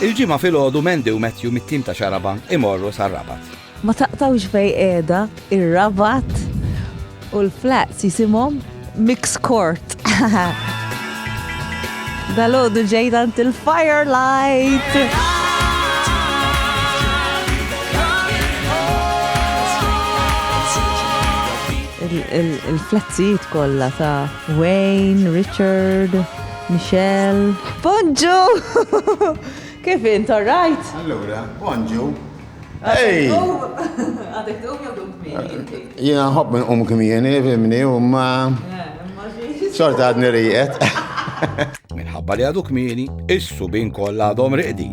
Il-Ġimgħa filgħodu Mandy u Matthew mit-tim ta' Xarabank imorru sar-Rabat. Ma taqtgħux fejn qiegħda ir-Rabat u l-flats jisimhom Mix Court. Dalodu ġejt għand il-Firelight. Il-flatzijiet kollha ta' Wayne, Richard, Michelle. Bonġu! Kif int, all right? Allura, bonġu. Ej! Għadek tqum jew tqum kmieni inti? Jiena nħobb nqum kmieni, fimni, u ma. Eh, Xorta għadni riqet. Minħabba li għadu kmieni, is-subin kollha għadhom riqdin.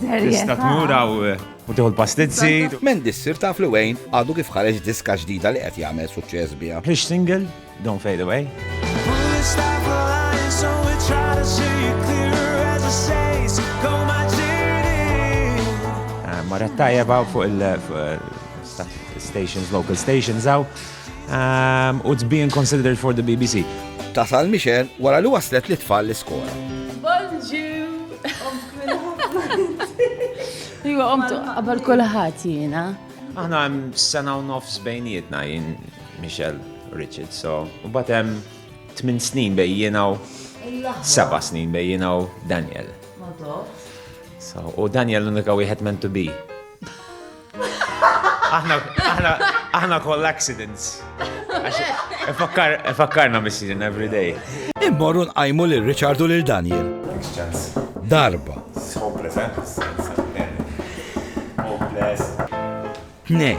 Tista' tmur hawn eh, u tieħu l-pastizzi. Men dissir taf li Wayne għadu kif ħareġ diska ġdida li qed jagħmel suċċess biha. Hix single, Don't Fade Away. Eh, Marret tajjeb fuq il-stations, eh, local stations għaw. Um, it's being considered for the BBC. Tasal Michelle wara li waslet li tfal l-iskola. Bonġu! Iwa, omtu, għabal kullħat jina. Aħna għem sena u nofs bejnietna jien Michelle Richard, so, u batem 8 snin bej jina u 7 snin bej jina u Daniel. So, u Daniel l-unika wieħed meant to be. Aħna koll accidents. Fakkarna missi in every day. Immorru nqajmu lil Richard u lil Daniel. Darba. Hopeless, eh? Hopeless. Tnej.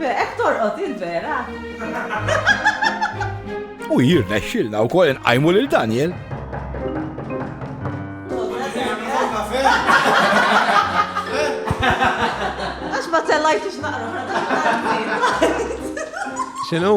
Hekk torqod il-vera. U jirnexxilna wkoll inqajmu lil Daniel. Għax ma tellajtux naqra. X'inhu?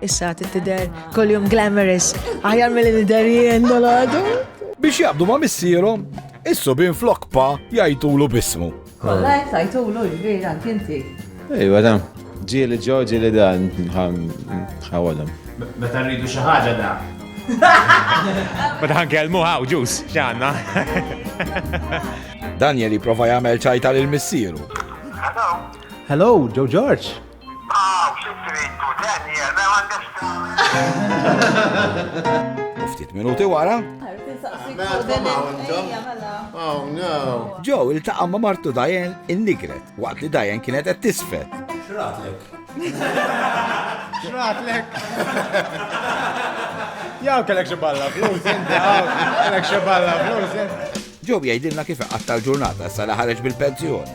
Issa tidher koljum glamorous, aħjar mill nidher jien dal-għadu. Biex jabdu ma' missierhom, issu bin flok pa jajtulu bismu. Kolla jek tajtulu ġbir għant inti. Ej, għadam, ġili ġo ġili dan, ħawadam. Meta rridu xi ħaġa da. Meta ħankelmu ħaw ġus, xanna. Daniel jiprofa jagħmel ċajta lil missieru. Hello, Joe George. Hawn xi trid tu Daniel, m'hemm għandek x'tagħmel. U ftit minuti wara. Joe iltaqa' ma' martu Diane in-nigret waqt li Diane kienet qed tisfed. X'ratlek? X'ratlek? Jaw kellek xi balla flus inti, jaw kellek xi balla flus inti. Joe jgħidilna kif iqatta' l-ġurnata sa li ħareġ bil-pensjoni.